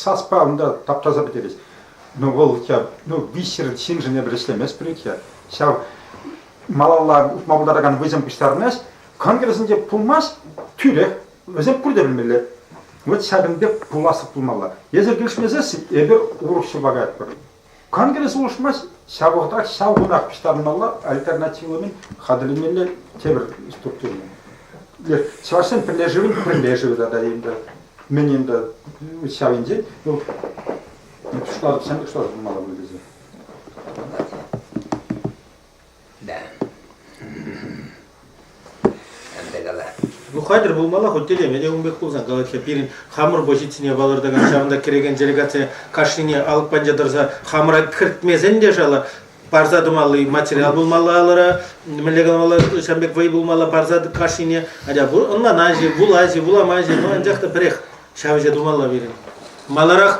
саспа унта таптаса пӗтерет. Ну, вӑл я, ну, виҫсӗр ҫыншӑн эпир ӗҫлемест пуль-ик-ха. Ҫав малалла утма пултаракан вӑйсем пуҫтарӑнать. Конгрессӗнче пулмасть, тӳрех вӗсем пурте пӗлмелле. Вот ҫакӑн пек пуласлӑх пулмалла. Эсир килӗшмесессӗн эпир урӑх ҫурпа каятпӑр. Конгресс улшӑнмасть, ҫапах ҫав кунах пуҫтарӑнмалла альтернативлӑ хатӗрлемелле тепӗр структура. Чӑвашсен пӗрлешӗвӗн пӗрлешӗвӗ тата енді мӗн енді ҫав енчен вӑл пуҫлар ҫӗнӗ пуҫлар пулмалла пуль тесе. Ну хатӗр пулмалла хуть телеме те ун пек пулсан калать-ха пирӗн хамӑр позицине палӑртакан ҫавӑнта кӗрекен делегацие кашнине алӑк панча тӑрса хамӑра кӗртмесен те шала парса тӑмалли материал пулмалла алӑра мӗнле каламалла ҫавӑн пек вӑй пулмалла парса кашнине атя ӑнланаҫҫӗ вулаҫҫӗ вуламаҫҫӗ ну анчах та пӗрех ҫав ӗҫе тумалла пирӗн маларах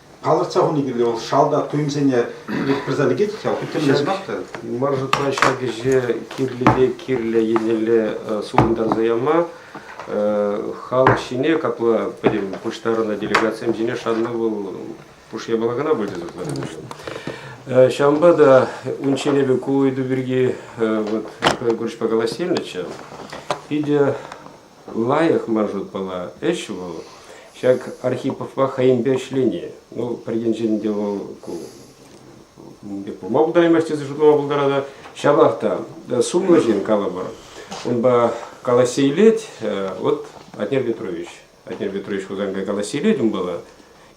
Палӑртса хуни кирлӗ, вӑл шалта туйӑмсене пырса лекет ҫав, тӗллемех та. Мар шутра ҫак ӗҫе кирлӗ те кирлӗ еннелле супӑнтарса яма халӑх ҫине, капла пӗтӗм пуҫтарӑннӑ делегатсем ҫине шанма вӑл пуш япала кӑна пулчӗ сыхланӑ Ҫавӑнпа та унччен эпӗ ку ыйту пирки вот Николай Гурьевичпа калаҫса илнӗччӗ. Питӗ лайӑх маршрутпала ӗҫ вӑл. Ҫак Архиповпа хӑйӗнпе ӗҫлени, ну, пӗр енчен те вӑл ку пулма пултараймасть тесе шутлама пултарать. Ҫапах та сумлӑ ҫын, калӑпӑр, унпа калаҫса илет. Э, вот Атнер Петрович, Атнер Петрович Хусанкай калаҫса илет унпала.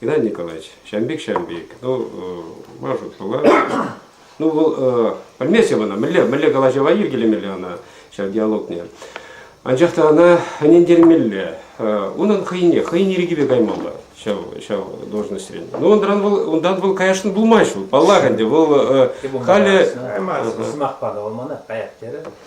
Геннадий Николаевич, ҫавӑн пек, ҫавӑн пек. Ну, Машут пулать. Ну, вӑл пӗлмест ӑна, мӗнле, мӗнле калаҫӑва йӗркелемелле ӑна ҫав диалогне. Анчах та ӑна ӗнентермелле. Унӑн хӑйне, хӑйӗн ирӗкӗпе каймалла ҫав, ҫав должноҫрен. Ну, унран вӑл, унтан вӑл каясшӑн пулмасть вӑл, паллах ӗнтӗ, вӑл халӗ... Сӑмах панӑ, ӑмана, каяк терӗ.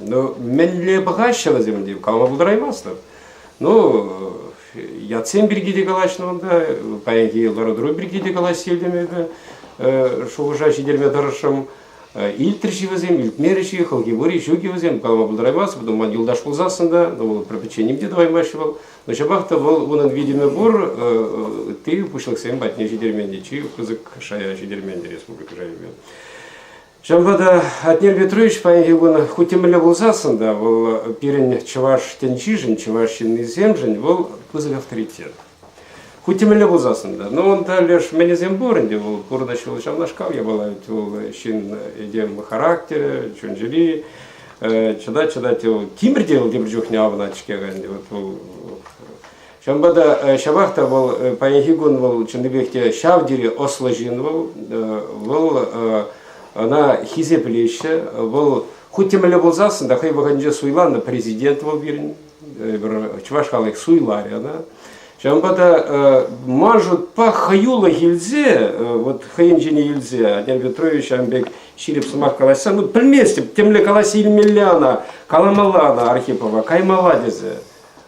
Ну, мӗнле пӑхаҫҫӗ вӗсем те, калама пултараймастӑп. Ну, ятсем пирки те калаҫнӑ унта, паянхи лару-тӑру пирки те калаҫса илтӗм эпӗ, шухӑша ҫитерме тӑрӑшрӑм. Илтрӗҫ-и вӗсем, илтмерӗҫ-и, хӑлхи пур-и, ҫук-и вӗсем, калама пултараймастӑп, потом ман юлташ пулсассӑн та, ну, вӑл приключеним те тӑваймаҫҫӗ вӑл, но ҫапах та вӑл, унӑн витӗмӗ пур, ытти пуҫлӑхсем патне ҫитермен те, чи пысӑк шая ҫитермен те республика шайӗпе. Ҫавӑнпа та Атнер Петрович паянхи кун хуть темелле пулсассӑн та вӑл пирӗн чӑваш тӗнчишӗн, чӑваш ҫыннисемшӗн вӑл пысӑк авторитет. Хуть темелле пулсассӑн та. Но он леш мелӗсем пур ӗнтӗ, вӑл пурнӑҫ вӑл ҫавнашкал япала ведь вӑл ҫын этем характерӗ, чун-чӗри, чӑтать-чӑтать вӑл тимӗр те вӑл тепӗр чухне авӑнать-ҫке ӗнтӗ, вот вӑл Ҫавӑнпа та ҫапах та вӑл паянхи кун вӑл чӑннипех те ҫав тери ӑслӑ ҫын вӑл. Вӑл ӑна хисеплеҫҫӗ. Вӑл хуть темелле пулсассӑн та хӑй вӑхӑтӗнче суйланнӑ президент вӑл пирӗн. Пӗр чӑваш халӑх суйларӗ ӑна. Ҫавӑнпа та мажутпа хӑюлӑх илсе, вот хӑйӗн ҫине илсе Антон Петрович ҫавӑн пек ҫирӗп сӑмах калаҫса, ну пӗлместӗп, темле калаҫса илмелле ана, каламалла ана Архипова, каймалла тесе.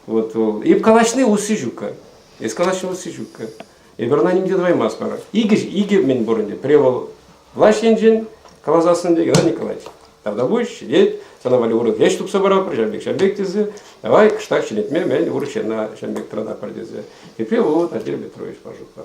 Вот вӑл. И калаҫни усси ҫукка. Эс калаҫни усси ҫукка. Эпир ӑна нимте тӑваймастпӑр. Икӗ, икӗ мӗн пурӑнчӗ. Превол влаҫ енчен каласассӑн пек, Геннадий Николаевич, тогда будешь сидеть, сана валли урӑх ӗҫ тупса паратпӑр, ҫав пек, ҫав пек тесе, давай кӑштах ҫӗнетме мӗн урӑх ҫынна ҫав пек тӑрататпӑр тесе. И превол Владимир Петрович пожухла.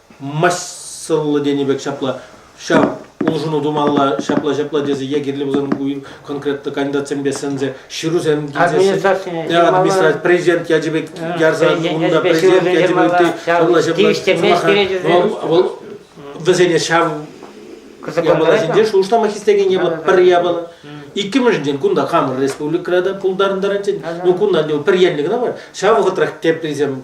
массӑллӑ тенӗ пек ҫапла ҫав улшӑну тумалла ҫапла-ҫапла тесе е кирлӗ пулсан конкретно кандидатсемпе сӗнсе ҫырусем администраци администраци президент ячӗпе ярса унта президент ячӗпе ҫапла-ҫапла вӑл вӗсене ҫав япаласенче шухӑшлама хистекен япала пӗр япала иккӗмӗшӗнчен кунта хамӑр республикӑра та пултарӑнтарать ну кунта пӗр енлӗ кӑна мар ҫав вӑхӑтрах теприсем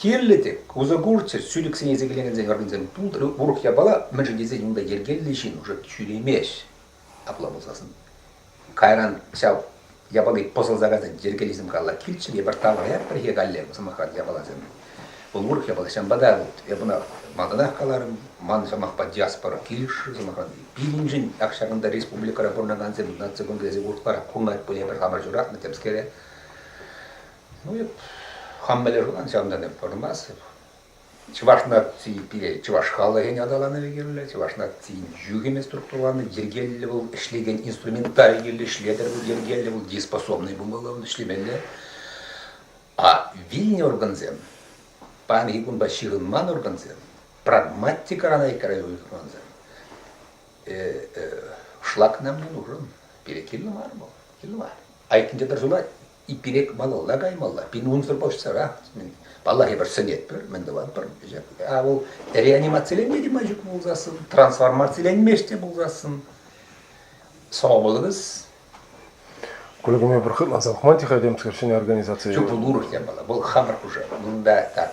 Кирлӗ те, усӑ курччӑр ҫӳлӗксене сикелекенсен хӑрнисем. Урӑх япала мӗншӗн тесен унта йӗркеллӗ ҫын уже ҫӳремест. Апла пулсассӑн. Кайран ҫав япали пӑсӑлса кайсан йӗркеллисем калла килччӗр, эпир таврӑнаyak пӗрхе калле, сӑмахран, япаласем. Вӑл урӑх япала ҫавӑнпа та вот я бына малтанах каларӑм, ман сӑмахпа диаспора килӗшрӗ, сӑмахран, пирӗншӗн ак ҫакӑнта республикӑра пурӑнакансем наци кунӗ тесе уртларах курӑнать пуль, эпир хамӑр ҫуратнӑ темскере. Ну, хам мӗнле шутлан, ҫавӑнта та пӑрмас. Чӑваш наци пире чӑваш халӑхӗн аталанӑвӗ кирлӗ, чӑваш нацийӗн юхӑмӗ структураланӑ, йӗркеллӗ вӑл ӗҫлекен инструменталь кирлӗ, ӗҫлетӗр вӑл йӗркеллӗ, вӑл дееспособный пулмалла, вӑл ӗҫлемелле. А вилнӗ органсем, паянхи кунпа ҫыхӑнман органсем, прагматикӑран айккара уйӑхмансем, шлакна мӑнурӑн пире кирлӗ мар вӑл, кирлӗ мар. Айккинче пӗр сунать, иккӗлек малалла каймалла, пин унсӑр поҫсӑра. Паллах, эпир сӗнетпӗр, мӗн тӑватпӑр. А вӑл реанимациленме те май ҫук пулсассӑн, трансформациленмест те пулсассӑн, сӑва пулӑбыз. Кулькуме пӗр хытланса пӑхман тӗхе темскер ҫӗнӗ организаци. Чуп пулур япала. Вӑл хамӑр хушӑ. Унта так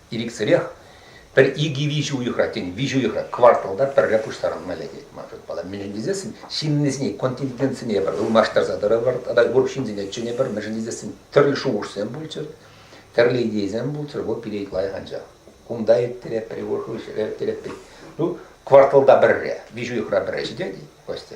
ирӗксӗрех пӗр икӗ-виҫӗ уйӑхрах, тен, виҫӗ уйӑхрах, кварталта пӗрре пуҫтарӑнма лекет ман шутпа. Мӗншӗн тесессӗн ҫыннисене, контингентсене пӗр ылмаштарса тӑрӑпӑр тата ырӑ ҫынсене чӗнӗпӗр, мӗншӗн тесессӗн тӗрлӗ шухӑшсем пулччӑр, тӗрлӗ идейӑсем пулччӑр, вӑл пире лайӑх анчах. Кунта ирттерет, пӗр уйӑхра ирттерет. Ну, кварталта пӗрре, виҫӗ уйӑхра пӗрре ҫитет-и, Костя?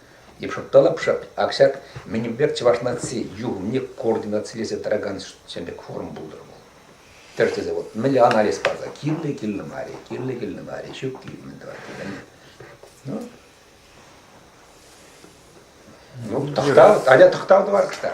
Йӑпшӑттарӑпшӑ ак мӗнпер чӑваш наци юхӑмне координацилесе тӑракан ҫӗн пек форум пултӑр вӑл. Тӗр тесе вот мӗнле анализ парса кирлӗ, кирлӗ мар-и, кирлӗ, кирлӗ мар-и, ҫук киле мӗн тӑватти пӗлнӗ. Ну, ну тӑхтав, аля тӑхтав тӑвар кӑштах.